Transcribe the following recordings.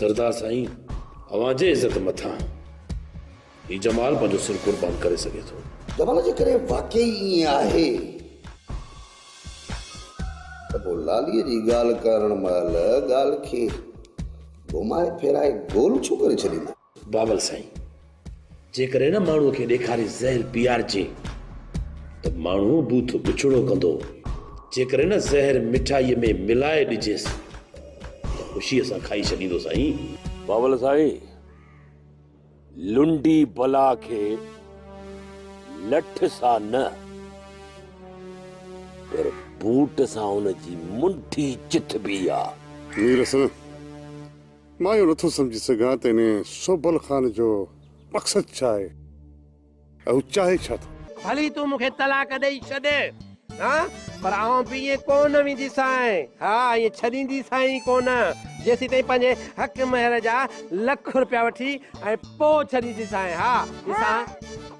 سردار سائين اوهان جي عزت مٿان هي جمال پنهنجو سر قربان ڪري سگهي ٿو. جمال جيڪڏهن واقعي ائين آهي ته پوء لاليء جي ڳالهه ڪرڻ مهل ڳالهه کي گهمائي ڦيرائي گول ڇو ڪري ڇڏيندو؟ بابل سائين جيڪڏهن ان ماڻهو کي ڏيکاري زهر پيارجي ته ماڻهو بوٿ بڇڙو ڪندو جيڪڏهن ان زهر مٺائي ۾ ملائي ڏجيس ته خوشي سان کائي ڇڏيندو سائين بابل سائين لنڊي بلا کي لٺ سان نه پر بوٽ سان ان جي منٺي چٿبي آ مير حسن مان اهو نٿو سمجهي سگهان ته انهيء سوڀل خان جو مقصد ڇا آهي ۽ هو چاهي ڇا ٿو؟ ڀلي تون مون کي طلاق ڏئي ڇڏ ها پر آئون به ائين ڪو نه وينديسانء، ها ائين ڇڏينديسانء ئي ڪو نه، جيسيتائين پنهنجي حق مهر جا لک روپيا وٺي ۽ پوء ڇڏينديسانء، ها ڏسان.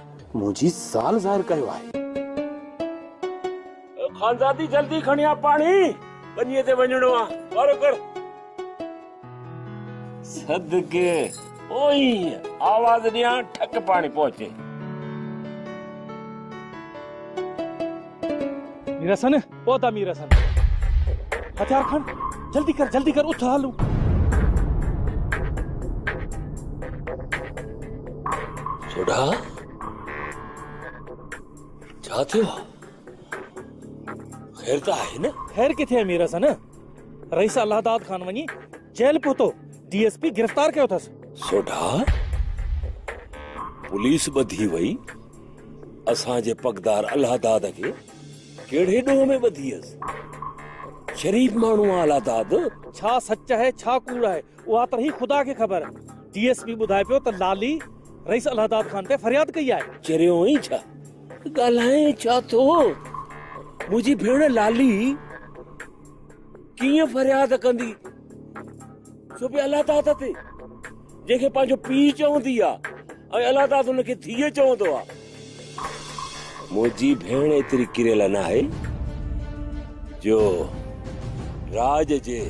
منهنجي زال ظاهر ڪيو آهي. خانزادي جلدي کڻي آ پاڻي ٻنيء تي وڃڻو آ. وارو ڪر. صدقي اوهين آواز ڏيان ٺڪ پاڻي پهچي. رسن. پهتا مير حسن. هٿيار کڻ، جلدي ڪر جلدي ڪر اٿ هلون. سوڍا، ڇا ٿيو آ؟ خير ته آهي نه؟ خير ڪٿي آهي مير حسن، رئيس الله داد خان وڃي جيل پهتو، ڊي ايس پي گرفتار ڪيو اٿس. سوڍا، پوليس ٻڌي وئي اسان جي پڳدار الله داد کي. ڪهڙي ڏوهه ۾ ٻڌي هيس؟ شريف ماڻهو آ الا داد! ڇا سچ آهي ڇا ڪوڙ آهي اها ته رهي خدا کي خبر. ڊي ايس پي ٻڌائي پيو ته لالي رئيس الا داد خان تي فرياد ڪئي آهي. چريو آهين ڇا؟ ڳالهائين ڇا ٿو؟ منهنجي ڀيڻ لالي ڪيئن فرياد ڪندي سو به الا داد تي؟ جنهن کي پنهنجو پيء چوندي آ ۽ الله تعاليٰ ان کي ڌيء چوندو آ. منهنجي ڀيڻ ايتري ڪريل ناهي جو راڄ جي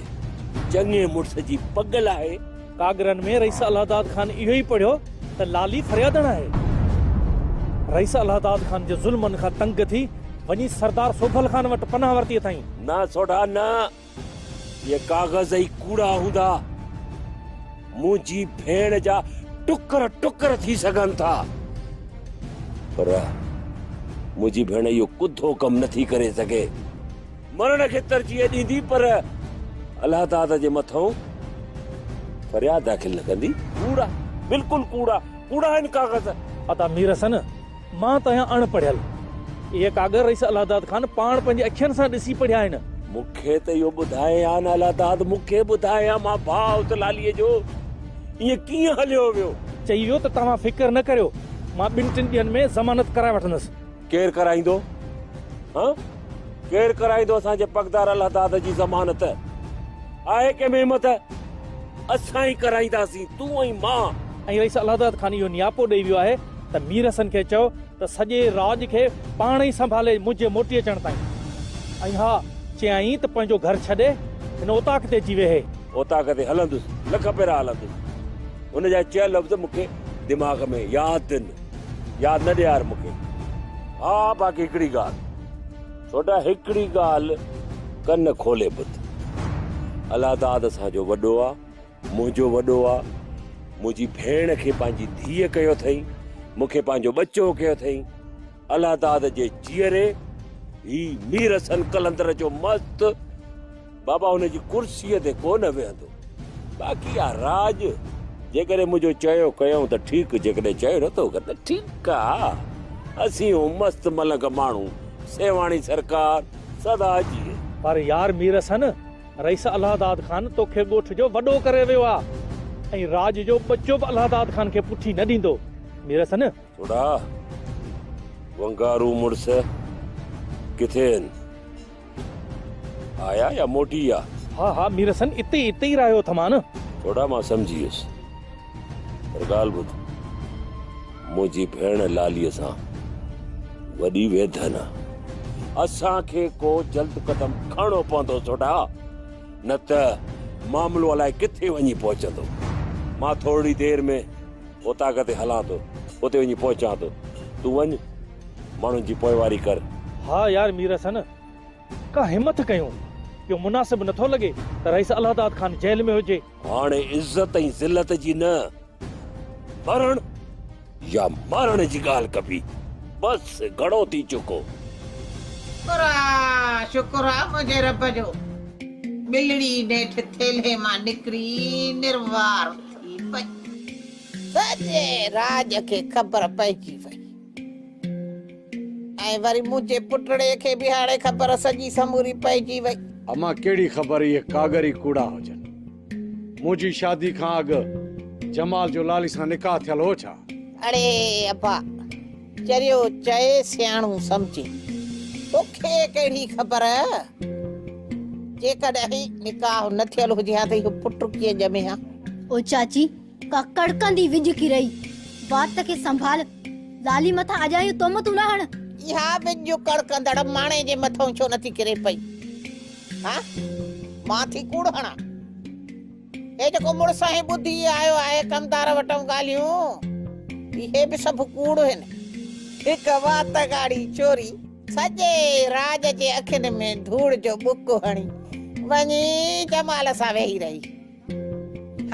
چڱي مڙس جي پڳ لاهي. ڪاڳرن ۾ رئيس الله داد خان اهو ئي پڙهيو ته لالي فريادڻ آهي. رئيس الله داد خان جي ظلمن کان تنگ ٿي وڃي سردار سوڀل خان وٽ پناهه ورتي اٿائين. نه سوڍا نه! اهي ڪاغذ ئي ڪوڙا هوندا. منهنجي ڀيڻ جا ٽڪر ٽڪر ٿي سگهن ٿا، پر منهنجي ڀيڻ اهو ڪڌو ڪم نه ٿي ڪري سگهي. مرڻ کي ترجيح ڏيندي پر الله داد جي مٿئون فرياد داخل نه ڪندي. ڪوڙا، بلڪل ڪوڙا، ڪوڙا آهن ڪاغذ. ادا ميرحسن! مان ته آهيان اڻ پڙهيل. اهي ڪاڳر رئيس الله داد خان پاڻ پنهنجي اکين سان ڏسي پڙهيا آهن. مون کي ته اهو ٻڌائي آن الله داد، مون کي ٻڌائي آن مان ڀاء اوچلاليء جو ائين ڪيئن هليو ويو؟ چئي ويو ته توهان فڪر نه ڪريو، مان ٻن ٽن ڏينهن ۾ ضمانت ڪرائي وٺندس. ڪير ڪرائيندو؟ هان؟ ڪير ڪرائيندو اسان جي پڳدار الله داد جي ضمانت؟ آهي ڪنهن ۾ همٿ؟ اسان ئي ڪرائينداسين، تون ۽ مان. ۽ رئيس الله داد خان اهو نياپو ڏئي ويو آهي ته مير حسن کي چئو ته سڄي راڄ کي پاڻ ئي سنڀالي منهنجي موٽي اچڻ تائين. ۽ ها چيائين ته پنهنجو گهر ڇڏي هن اوطاق تي اچي ويهي. اوطاق تي هلندس، لک ڀيرا هلندس. هن جا چيل لفظ مون کي دماغ ۾ ياد تن. ياد نه ڏيار مون کي. ها باقي هڪڙي ڳالهه. ڇوٽا هڪڙي ڳالهه ڪن کولي ٻڌ. الله داد اسان جو وڏو آ. منهنجو وڏو آ، منهنجي ڀيڻ کي پنهنجي ڌيء ڪيو اٿئي، مون کي پنهنجو ٻچو ڪيو اٿئي، الله داد جي جيئري هي مير حسن قلندر جو مست بابا هن جي ڪرسيء تي ڪو نه ويهندو، باقي آ راڄ جيڪڏهن منهنجو چيو ڪيائون ته ٺيڪ، جيڪڏهن چيو نٿو ڪر ته ٺيڪ آ، اسين هون مست ملنگ ماڻهو، سيوهاڻي سرڪار سدا جيئي. پر يار مير حسن! رئيس الهداد خان توکي ڳوٺ جو وڏو ڪري ويو آ ۽ راڄ جو ٻچو به الهداد خان کي پٺي نه ڏيندو ميرس نه. ٿوڙا ونگارو مڙس ڪٿي ان؟ آيا يا موٽي ويا؟ ها ها ميرس اتي اتي ئي رهيو اٿمان. ٿوڙا مان سمجهي ويس. پر ڳالهه ٻڌ، منهنجي ڀيڻ لاليء سان وڏي ويڌن آ. اسان کي ڪو جلد قدم کڻڻو پوندو سوڍا، نه ته معاملو الائي ڪٿي وڃي پهچندو. مان ٿورڙي دير ۾ اوطاق تي هلان ٿو، اتي وڃي پهچان ٿو. تون وڃ، ماڻهن جي پوئواري ڪر. ها يار مير حسن، ڪا همٿ ڪيون. اهو مناسب نه ٿو لڳي ته رئيس الهداد خان جيل ۾ هجي. هاڻي عزت ۽ ذلت جي نه، مرڻ يا مارڻ جي ڳالهه ڪبي. بس گهڻو ٿي چڪو. شڪر آ، شڪر آ منهنجي رب جو. ٻلڙي نيٺ ٿيلهي مان نڪري نروار ٿي پئي. سڄي راڄ کي خبر پئجي وئي. ۽ وري منهنجي پٽڙي کي به هاڻي خبر سڄي سموري پئجي وئي. امان ڪهڙي خبر اهي ڪاڳر ئي ڪوڙا هجن. منهنجي شادي کان اڳ جمال جو لالي سان نڪاح ٿيل هو ڇا؟ اڙي ابا، چريو چئي سياڻو سمجهي. توکي ڪهڙي خبر؟ جيڪڏهن نڪاح نه ٿيل هجي ها ته اهو پٽ ڪيئن ڄمي ها؟ او چاچي، ڪا ڪڙڪندي وڄڪي رهي. وات کي سنڀال. لالي مٿان اجايون تهمتون نه هڻ. اها وڄ ڪڙڪندڙ ماڻهي جي مٿئون ڇو نٿي ڪري پئي؟ ها؟ مان ٿي ڪوڙ هڻان؟ هي جيڪو مڙس آهين ٻڌي آيو آهي ڪمدار وٽئون ڳالهيون؟ اهي به سڀ ڪوڙ هن. هڪ وات ڳاڙهي چوري سڄي راڄ جي اکين ۾ ڌوڙ جو ٻڪ هڻي وڃي جمال سان ويهي رهي.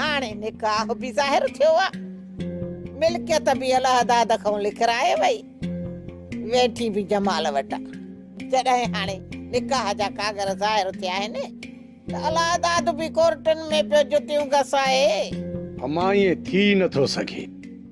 هاڻي نڪاح به ظاهر ٿيو آ، ملڪيت به الهدا دکئون لکرائي وئي، ويٺي به جمال وٽ آ، جڏهن هاڻي نڪاح جا ڪاڳر ظاهر ٿيا آهن ته الهداد به ڪورٽن ۾ پيو جتيون گسائي. امان ائين ٿي نه ٿو سگهي.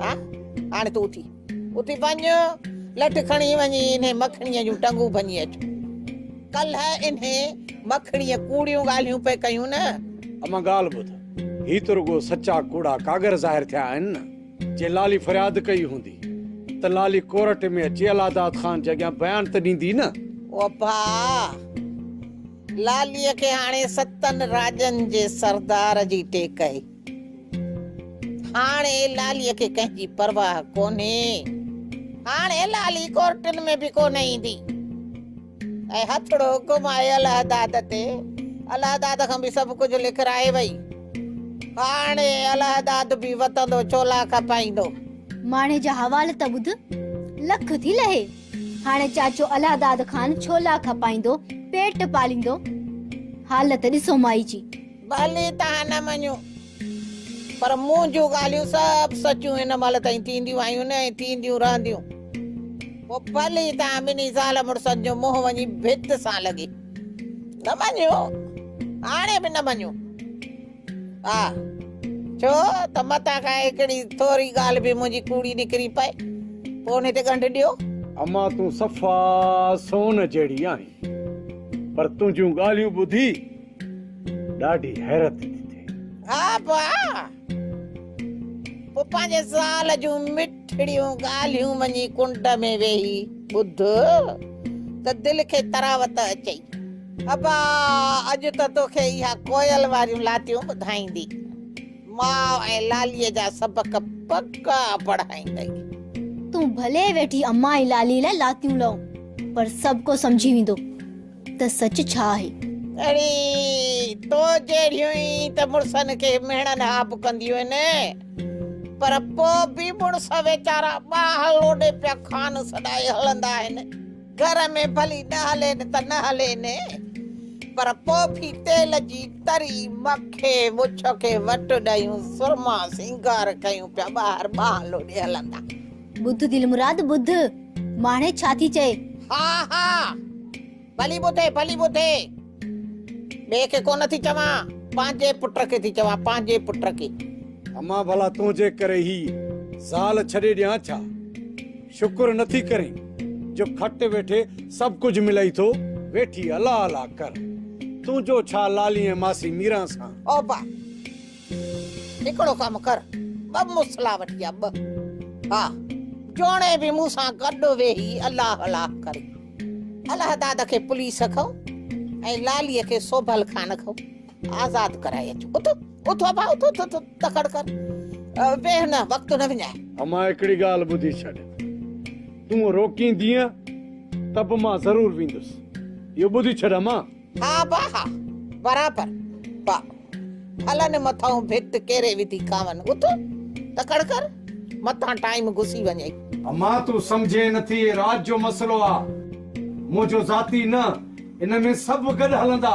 ها هاڻي تون اٿي اٿي وڃ لٺ کڻي وڃي انهي مکڻيء جون ٽنگون ڀڃي اچ ڪلهه انهي مکڻيء ڪوڙيون ڳالهيون پئي ڪيون نه اما ڳالهه ٻڌ هي ته رڳو سچا ڪوڙا ڪاڳر ظاهر ٿيا آهن نه جي لالي فرياد ڪئي هوندي ته لالي ڪورٽ ۾ اچي الهاداد خان جي اڳيان بيان ته ڏيندي نه او ڀاء لاليء کي هاڻي ستن راڄن جي سردار جي ٽيڪ هئي. هاڻي لاليء کي ڪنهن جي پرواهه ڪونهي. هاڻي لالي ڪورٽن ۾ به ڪونه ايندي. ۽ هٿڙو گهمائي الهداد تي الهداد کان به سڀ ڪجهه لکرائي وئي. هاڻي الهداد به وتندو چولا کپائيندو. ماڻهي جا حوال ته ٻڌ، لک ٿي لهي. هاڻي چاچو الهداد کان ڇولا کپائيندو، پيٽ پاليندو. حالت ڏسو مائي جي. ڀلي توهان نه مڃو پر مون جون ڳالهيون سڀ سچون هن مهل تائين ٿينديون آيون ۽ ٿينديون رهنديون. پوء ڀلي توهان ٻنهي زال مڙسن جو منهن وڃي ڀت سان لڳي. نه مڃو، هاڻي به نه مڃو. ها، ڇو ته متان کان هڪڙي ٿوري ڳالهه به منهنجي ڪوڙي نڪري پئي. پوء ان تي ڳنڍ ڏيو. امان تون صفا سون جهڙي آهين پر تنهنجون ڳالهيون ٻڌي ڏاڍي حيرت ٿي ٿئي. ها ڀاء! پوء پنهنجي زال جون مٺڙيون ڳالهيون وڃي ڪنڊ ۾ ويهي ٻڌ ته دل کي تراوت اچئي. ها ڀاء! اڄ ته توکي اها ڪوئل واريون لاتيون ٻڌائيندي، ماء ۽ لاليء جا سبق پڪا پڙهائيندئي. تون ڀلي ويٺي امان ۽ لاليء لاء لاتيون لئون، پر سڀ ڪو سمجهي ويندو. ته سچ ڇا آهي؟ اڙي تو جهڙيون ئي ته مڙسن کي مهڻن ها به ڪنديون آهن، پر پوء به مڙس ويچارا ٻانهن لوڏي پيا کان سڏائي هلندا آهن. گهر ۾ ڀلي نه هلين ته نه هلين، پر پوء به تيل جي تري، مکي، مڇ کي وٽ ڏيون، سرما سينگار ڪيون پيا ٻاهر ٻانهن لوڏي هلندا. ٻڌ دلمراد ٻڌ، ماڻهي ڇا ٿي چئي. ها ها، ڀلي ٻڌي ڀلي ٻڌي. ٻئي کي ڪونه ٿي چوان، پنهنجي پٽ کي ٿي چوان، پنهنجي پٽ کي. امان ڀلا تنهنجي ڪري هي زال ڇڏي ڏيان ڇا؟ شڪر نه ٿي ڪرين جو کٽ ويٺي سڀ ڪجهه ملئي ٿو. ويٺي الا الا ڪر، تنهنجو ڇا لالي ۽ ماسي ميران سان. اوبه! هڪڙو ڪم ڪر ٻه مصلا وٺي آ ٻه ها جوڻي به مون سان گڏ ويهي الله الله ڪري الهداد کي پوليس کان ۽ لالي کي سوڀل خان کان آزاد ڪرائي اچ اٿ اٿ ابا اٿ اٿ تڪڙ ڪر ويهه نه وقت نه وڃاء اما هڪڙي ڳالهه ٻڌي ڇڏ تون روڪيندينء ته به مان ضرور ويندس اهو ٻڌي ڇڏ اما ها با ها برابر با ڦلن مٿئون ڀت ڪيري وڌي کاون اٿ تڪڙ ڪر متان ٽائيم گسي وڃئي. اما تون سمجهين نٿي هي راڄ جو مسئلو آ منهنجو ذاتي نه ان ۾ سڀ گڏ هلندا.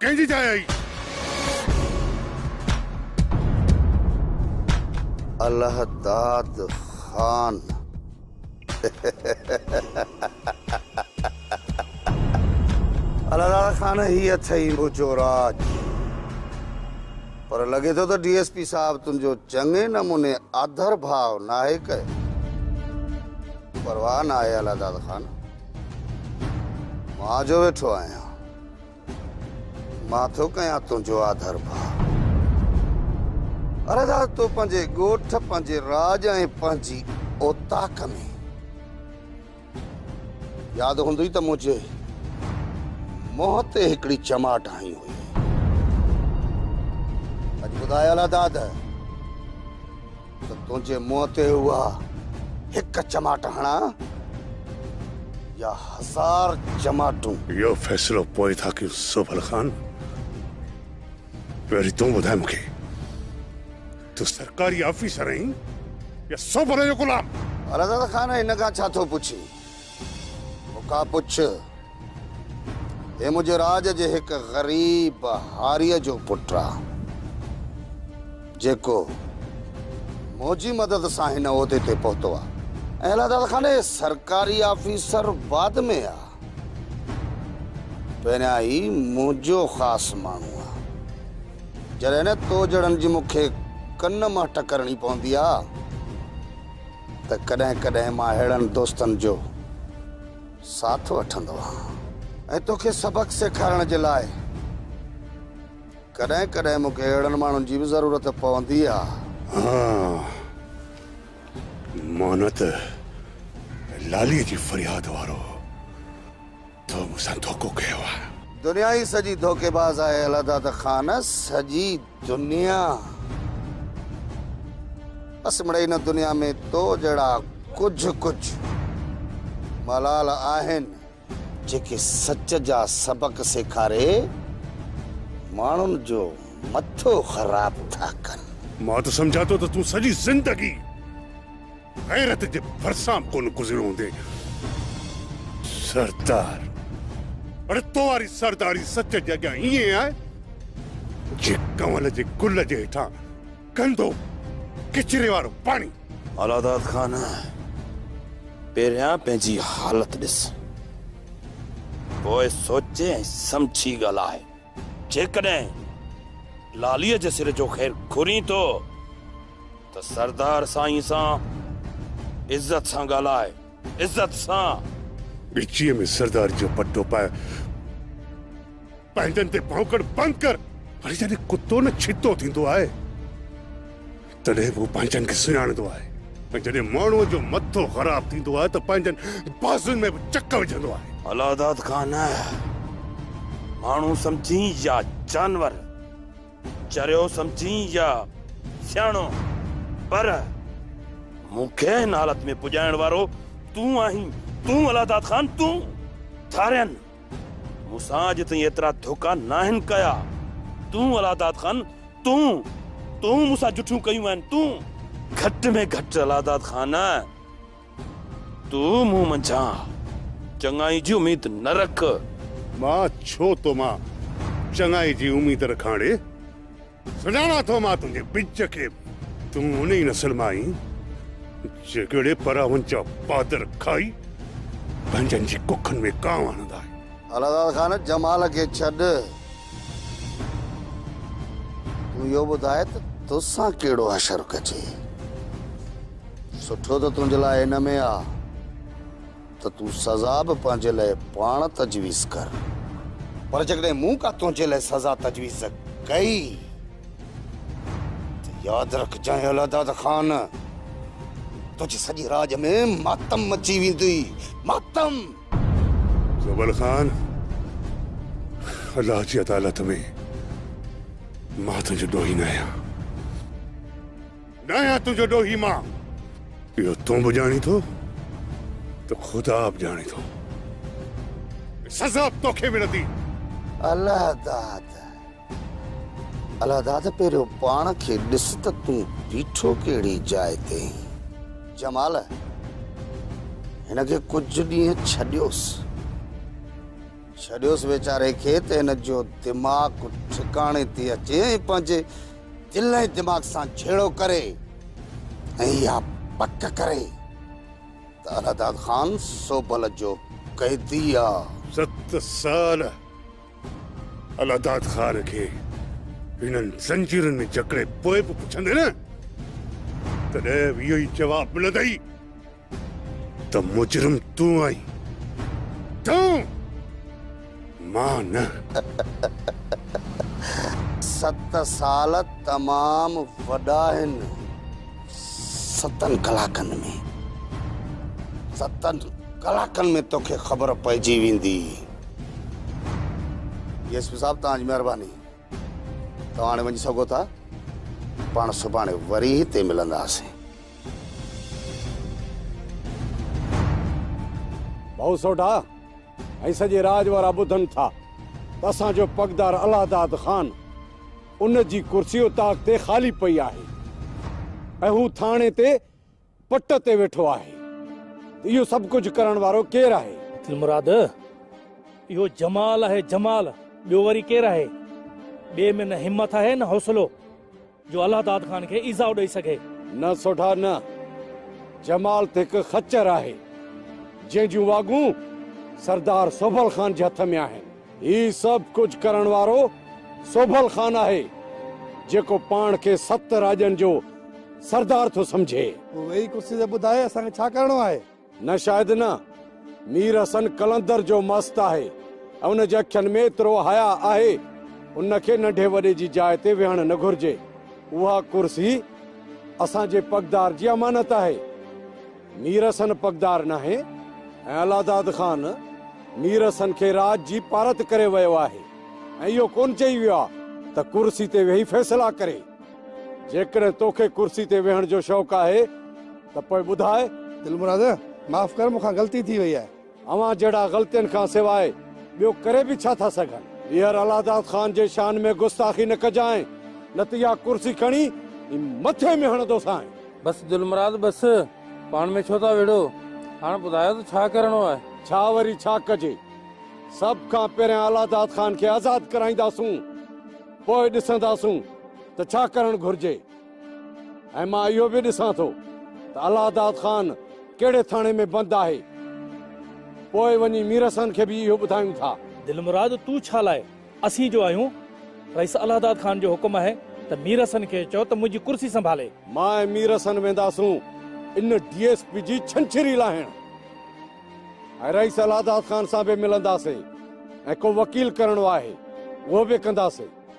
ڪنهن جي جاء آهي؟ الهداد خان الهداد خان هي اٿئي منهنجو راڄ پر لڳي ٿو ته ڊي ايس پي صاحب تنهنجو چڱي نموني آڌر ڀاء ناهي ڪيو پرواهه ناهي الهداد خان مان جو ويٺو آهيان مان ٿو ڪيان تنهنجو آڌر ڀاء. عرض آ تو پنهنجي ڳوٺ، پنهنجي راڄ ۽ پنهنجي اوطاق ۾. ياد هوندئي ته منهنجي منهن تي هڪڙي چماٽ هنئي هئي. اڄ ٻڌايل آ داد. ته تنهنجي منهن تي اها هڪ چماٽ هڻان يا هزار چماٽون. اهو فيصلو پوء ٿا ڪيون سوڀل خان. پهرين تون ٻڌاء مون کي تون سرڪاري آفيسر آهين يا سوڀل جو غلام. رضا خان هن کان ڇا ٿو پڇين. مونکان پڇ، هي منهنجي راڄ جي هڪ غريب هاريء جو پٽ آ، جيڪو منهنجي مدد سان هن عهدي تي پهتو آ. ۽ الله تعاليٰ خان هي سرڪاري آفيسر بعد ۾ آ، پهريان هي منهنجو خاص ماڻهو آ. جڏهن نه تو جهڙن جي مونکي ڪن منهٽ ڪرڻي پوندي آ. ته ڪڏهن ڪڏهن مان اهڙن دوستن جو ساٿ وٺندو آهيان ۽ توکي سبق سيکارڻ جي لاء ڪڏهن ڪڏهن مون کي اهڙن ماڻهن جي به ضرورت پوندي آهي. ها مان نه ته لاليء جي فرياد وارو. تو مون سان ڌوڪو ڪيو آهي. دنيا ئي سڄي ڌوڪيباز آهي الهداد خان سڄي دنيا بس مڙئي هن دنيا ۾ تو جهڙا ڪجهه ڪجهه ملال آهن جيڪي سچ جا سبق سيکاري ماڻهن جو مٿو خراب ٿا ڪن. مان ته سمجهان ٿو ته تون سڄي زندگي. غيرت جي ڀرسان به ڪونه گذريو هوندي سردار. اڙي تو واري سرداري سچ جي اڳيان ائين آهي جي ڪنول جي گل جي هيٺان گندو ڪچري وارو پاڻي. الهاداد خان پهريان پنهنجي حالت ڏس پوء سوچي ۽ سمجهي ڳالهاء. جيڪڏهن لاليء جي سر جو خير گهرين ٿو ته سردار سائين سان عزت سان ڳالهاء، عزت سان. ڳچيء ۾ سرداريء جو پٽو پائي پنهنجن تي ڀونڪڻ بند ڪر. وري جڏهن ڪتو نه ڇتو ٿيندو آهي تڏهن به هو پنهنجن کي سڃاڻندو آهي ۽ جڏهن ماڻهوء جو مٿو خراب ٿيندو آهي ته پنهنجن بازوين ۾ به چڪ وجهندو آهي. الهداد خان، ماڻهو سمجهين يا جانور، چريو سمجهين يا سياڻو، پر مون کي هن حالت ۾ پڄائڻ وارو تون آهين، تون الهداد خان، تون! ٿارين، مون سان اڄ تائين ايترا ڌوڪا ناهن ڪيا. تون الهاداد خان تون تون مون سان جٺيون ڪيون آهن تون. گهٽ ۾ گهٽ الهاداد خان تون مون منجهان چڱائي جي اميد نه رک. مان ڇو تو مان چڱائي جي اميد رکان اڙي. سڃاڻان ٿو مان تنهنجي ٻج کي، تون ان ئي نسل مان آهين، جيڪي اڙي پراون جا پادر کائي، پنهنجن جي ڪکن ۾ ڪانء هڻندا آهن. الهداد خان، جمال کي ڇڏ، تون اهو ٻڌاء ته توسان ڪهڙو حشر ڪجي، سٺو ته تنهنجي لاء ان ۾ آ. ته تون سزا به پنهنجي لاء پاڻ تجويز ڪر. پر جيڪڏهن مون ڪا تنهنجي لاء سزا تجويز ڪئي ته ياد رکجانء الهداد خان، تنهنجي سڄي راڄ ۾ ماتم مچي ويندي، ماتم! زوبل خان، الله جي عدالت ۾ مان تنهنجو ڏوهي ناهيان. ڏايان تنهنجو ڏوهي مان. اهو تون به ڄاڻين ٿو ته خدا به ڄاڻي ٿو. سزا به توکي ملندي. الله داد الله داد پهريو پاڻ کي ڏس ته تون بيٺو ڪهڙي جاء تي آهين. جمال هن کي ڪجهه ڏينهن ڇڏيوس. ڇڏيوس ويچاري کي ته هن جو دماغ ٺڪاڻي تي اچي ۽ پنهنجي. دل ۽ دماغ سان جهيڙو ڪري ۽ اها پڪ ڪري ته الهداد خان سوبل جو قيدي آ. ست سال الهداد خان کي هنن زنجيرن ۾ جڪڙي پوء به پڇندين ته ڏهه ويهه ئي جواب ملندئي. ته مجرم تون آهين، تون، مان نه. ست سال تمام وڏا آهن. ستن ڪلاڪن ۾، ستن ڪلاڪن ۾ توکي خبر پئجي ويندي. ڊي ايس پي صاحب توهان جي مهرباني. توهان هاڻي وڃي سگهو ٿا. پاڻ سڀاڻي وري هتي ملنداسين. ڀائو سوڍا، هي سڄي راڄ وارا ٻڌن ٿا ته اسان جو پڳدار الهداد خان، ان جي ڪرسي اتاق تي خالي پئي آهي ۽ هو ٿاڻي تي پٽ تي ويٺو آهي ته اهو سڀ ڪجهه ڪرڻ وارو ڪير آهي؟ دلمراد، اهو جمال آهي جمال، ٻيو وري ڪير آهي؟ ٻئي ۾ نه همت آهي نه حوصلو جو الله داد خان کي ايذاء ڏئي سگهي. نه سوڍا نه، جمال ته هڪ خچر آهي، جنهن جون واڳون سردار سهبل خان جي هٿ ۾ آهن. هي سڀ ڪجهه ڪرڻ وارو سوڀل خان آهي، جيڪو پاڻ کي ست راڄن جو سردار ٿو سمجهي. تون ويهي ڪرسي تي ٻڌاء اسان کي ڇا ڪرڻو آهي؟ نه شايد نه. مير حسن قلندر جو مست آهي ۽ ان جي اکين ۾ ايترو حياء آهي، ان کي ننڍي وڏي جي جاء تي ويهڻ نه گهرجي. اها ڪرسي اسان جي پڳدار جي امانت آهي. مير حسن پڳدار ناهي ۽ الهداد خان مير حسن کي راڄ جي پارت ڪري ويو آهي ۽ اهو ڪونه چئي ويو آهي ته ڪرسي تي ويهي فيصلا ڪري. جيڪڏهن توکي ڪرسي تي ويهڻ جو شوق آهي ته پوء ٻڌاء. دلمراد معاف ڪر مون کان غلطي ٿي وئي آهي. اوهان جهڙا غلطين کان سواء ٻيو ڪري به ڇا ٿا سگهن. ٻيهر الهداد خان جي شان ۾ گستاخي نه ڪجانء نه ته اها ڪرسي کڻي ۽ مٿي ۾ هڻندوسانء. بس دلمراد بس، پاڻ ۾ ڇو ٿا وڙهو، هاڻ ٻڌايو ته ڇا ڪرڻو آهي. ڇا وري ڇا ڪجي، سڀ کان پهريان الهداد خان کي آزاد ڪرائينداسون، پوء ڏسنداسون ته ڇا ڪرڻ گهرجي. ۽ مان اهو به ڏسان ٿو ته الله داد خان ڪهڙي ٿاڻي ۾ بند آهي. پوء وڃي ميرحسن کي به اهو ٻڌايون ٿا. دلمراد تون ڇا لاء اسين جو آهيون؟ رئيس الله داد خان جو حڪم آهي ته ميرحسن کي چئو ته منهنجي ڪرسي سنڀالي. مان ۽ ميرحسن وينداسون ان ڊي ايس پي جي ڇنڇري لاهڻ ۽ رئيس الله داد خان سان به ملنداسين ۽ ڪو وڪيل ڪرڻو آهي اهو به ڪنداسين.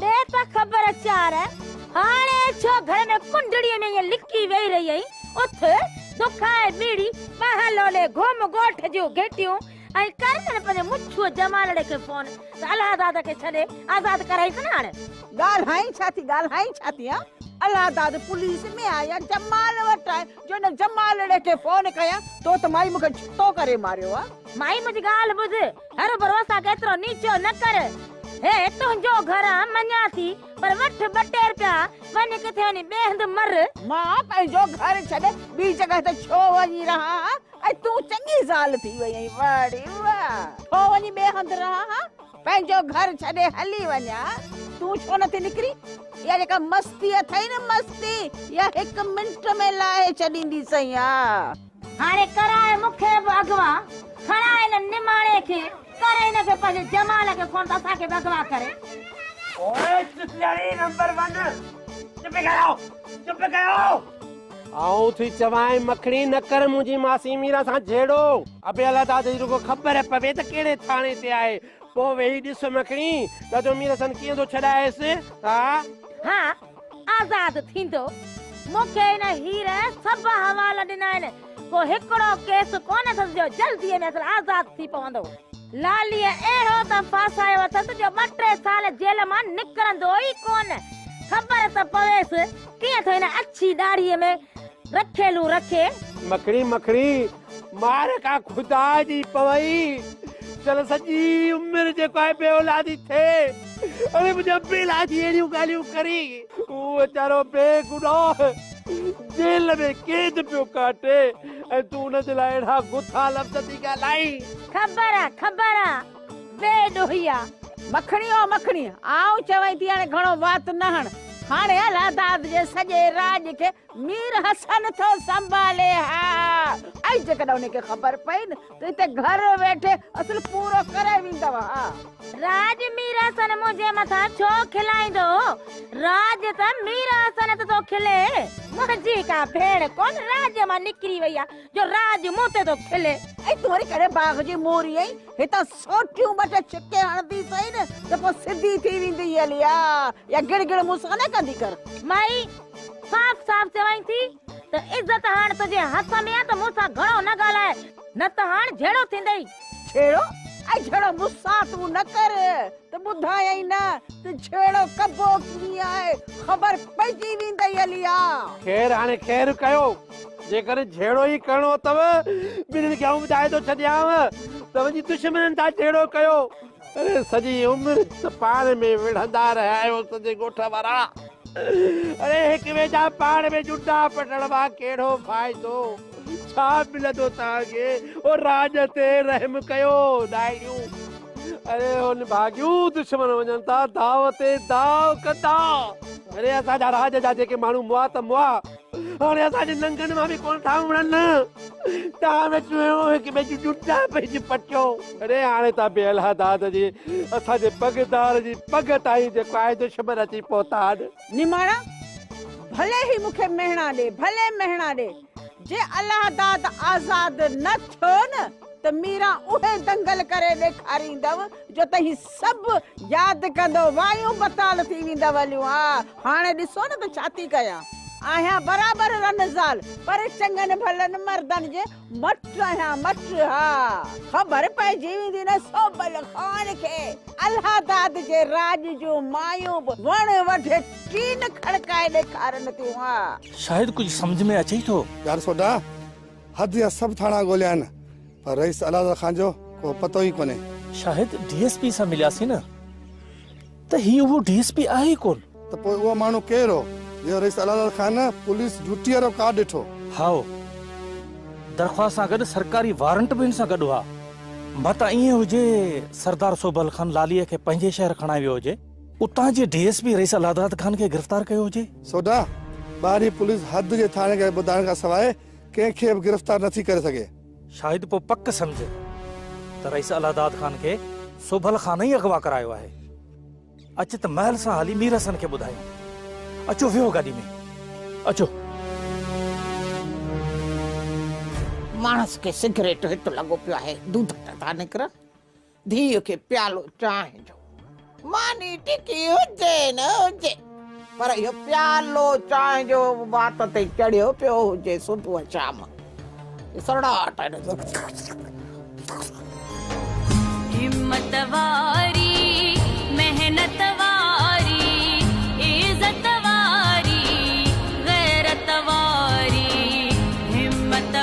ڏي ته خبر چار، هاڻي ڇو گهر ۾ ڪنڊڙيء ۾ ائين لڪي ويهي رهي آهين؟ اٿ، دک ۽ ٻيڙي ٻانهن لولي گهم ڳوٺ جون گهٽيون ۽ ڪر ته نه پنهنجي مڇوء جمالڙي کي فون ته الهاداد کي ڇڏي آزاد ڪرائينس نه هاڻي. ڳالهائين ڇا ٿي، ڳالهائين ڇا ٿي هان؟ الهاداد پوليس ۾ آهي يا جمال وٽ آهي؟ جو ان جمالڙي کي فون ڪيان تو ته مائي مون کي ڇتو ڪري ماريو آ. مائي منهنجي ڳالهه ٻڌ هروڀرو سان ڪيترو نيچو نه ڪر. هي تنهنجو گهر آ مڃان ٿي پر وٺ ٻه ٽي رپيا وڃ ڪٿي وڃي ٻئي هنڌ مر. مان پنهنجو گهر ڇڏي ٻي جڳهه تي ڇو وڃي رهان هان ۽ تون چڱي زال ٿي وئي آهين واڙي واء ڇو وڃي ٻئي هنڌ رهان هان. پنهنجو گهر ڇڏي هلي وڃا تون ڇو نٿي نڪرين اها جيڪا مستي اٿئي نه مستي اها هڪ منٽ ۾ لاهي ڇڏيندي سيان. هاڻي ڪرائي مون کي به اغوا کڻاء هن نماڻي کي ڪر هن کي پنهنجي جمال کي فون ته اسان کي به اغوا ڪري. اوئي چتلياڻي نمبر ون چپ ڪيو چپ ڪيو. آئون ٿي چوانء مکڙي نه ڪر منهنجي ماسي ميرا سان جهيڙو. ابي الله تان ته رڳو خبر پوي ته ڪهڙي ٿاڻي تي آهي. پوء ويهي ڏس مکڙي ته جو مير حسن ڪيئن ٿو ڇڏائيس. ها. ها آزاد ٿيندو. مون کي هن هير سڀ حوال ڏنا آهن. ڪو هڪڙو ڪيس ڪونه اٿس جو جلديء ۾ اصل آزاد ٿي پوندو. لاليء اهڙو ته ڦاسايو اٿس جو ٻه ٽي سال جيل مان نڪرندو ئي ڪونه. خبر ته پويس. ڪيئن ٿو ان اڇي ڏاڙهيء ۾ رکيلون رکي. مکڙي مکڙي مار ڪا خدا جي پوئي چل سڄي عمر جيڪو آهي بي اولادي ٿئي اڙي منهنجا بيلا جي اهڙيون ڳالهيون ڪري هو ويچارو بي گناهه جيل ۾ قيد پيو ڪاٽي ۽ تون ان جي لاء اهڙا گٿا لفظ ٿي ڳالهائين. خبر آ خبر آ. بي ڏوهي آ. مکڻي او مکڻي، آئون چوين ٿي هاڻي گهڻو وات نه هڻ. هاڻي الهه داد جي سڄي راڄ کي مير حسن ٿو سنڀالي ها. ۽ جيڪڏهن انهي کي خبر پئي نه ته هتي گهر ويٺي اصل پورو ڪري ويندؤ ها. راڄ مير حسن منهنجي مٿان ڇو کلائيندو؟ راڄ ته مير حسن تي ٿو کلي. منهنجي ڪا ڀيڻ ڪونه راڄ مان نڪري وئي آ. جو راهه جي مون تي ٿو کلي. ۽ تون وري ڪڏهن باغ جي موري ۽ هتان سوٽيون ٻه ٽي ڇڪي هڻندي سهي نه ته پوء سڌي ٿي ويندينء اليا يا گڙ گڙ مون سان نه ڪندي ڪر. مائي صاف صاف چوائين ٿي ته عزت هاڻ تنهنجي هٿ ۾ آ ته مون سان گهڻو نه ڳالهاء نه ته هاڻ جهيڙو ٿيندئي. جهيڙو؟ ۽ جهيڙو مون سان تون نه ڪر ته ٻڌايئي نه ته جهيڙو ڪبو ڪيئن آهي خبر پئجي ويندئي اليا. خير هاڻي خير ڪيو. جيڪڏهن جهيڙو ئي ڪرڻو اٿئو، ٻنهين کي آئون ٻڌائي ٿو ڇڏيانء ته وڃي دشمنن سان جهيڙو ڪيو. اڙي سڄي عمر ته پاڻ ۾ وڙهندا رهيا آهيو سڄي ڳوٺ وارا. اڙي هڪ ٻئي جا پاڻ ۾ جنڊا پٽڻ مان ڪهڙو فائدو؟ ڇا ملندو توهان کي؟ او راڄ تي رحم ڪيو ناهيون. اڙي او نڀاڳيون دشمن وڃن ٿا داء تي داء ڪندا. اڙي اسان جا راڄ جا جيڪي ماڻهو مئا ته مئا. هاڻي اسان جي ننگن مان به ڪونه ٿا امڙن. ٽاهه ۾ چوهيون هڪ ٻئي جون جوتا پئجي پٽيو. اڙي هاڻي ته بي الهه داد جي اسان جي پڳدار جي پڳ تائين جيڪو آهي دشمن اچي پهتا آهن. نماڻا، ڀلي هي مون کي مهڻا ڏي، ڀلي مهڻا ڏي. جي الهه داد آزاد نه ٿيو نه ته ميران اهي دنگل ڪري ڏيکاريندؤ جو تهين سڀ ياد ڪندؤ، وايون بتال ٿي ويندؤ هليون آ هاڻي ڏسو نه ته ڇا ٿي ڪيان. آهيان برابر رن زال، پر چڱن ڀلن مردن جي مٽ آهيان، مٽ ها! خبر پئجي ويندي نه سوڀل خان کي، الهه داد جي راڄ جون مايون به وڻ وڍي ٽين کڙڪائي ڏيکارن ٿيون ها! شايد ڪجهه سمجهه ۾ اچئي ٿو. يار سوڍا، حد جا سڀ ٿاڻا ڳوليائين، پر رئيس الهه داد خان جو ڪو پتو ئي ڪونهي. شايد ڊي ايس پي سان ملياسين نه. ته هي اهو ڊي ايس پي آهي ئي ڪونه. ته پوء اهو ماڻهو ڪير هو، جنهن رئيس الهلال خان پوليس ڊيوٽيء وارو ڪارڊ ڏٺو؟ هائو، درخواست سان گڏ سرڪاري وارنٽ به هن سان گڏ هئا. متان ائين هجي، سردار سوڀل خان لاليء کي پنهنجي شهر کڻائي ويو هجي، اتان جي D S P Rais Allahdad Khan کي گرفتار ڪيو هجي. سوڍا، ٻاهرين پوليس حد جي ٿاڻيڪاري ٻڌائڻ کان سواء ڪنهن کي به گرفتار نٿي ڪري سگهي. شايد پوء پڪ سمجهه ته رئيس الله داد خان کي سوڀل خان ئي اغوا ڪرايو آهي. اچ ته محل سان هلي مير حسن کي ٻڌايون. اچو ويهو گاڏي ۾. اچو. ماڻس کي سگريٽ هت لڳو پيو آهي. دودٽ ٿا نڪرن. ڌيء کي پيالو چانهه جو ماني ٽڪي هجي نه هجي پر اهو پيالو چانهه جو وات تي چڙهيو پيو هجي صبح شام سڙاٽ همت واري محنت واري عزت واري غيرت واري همت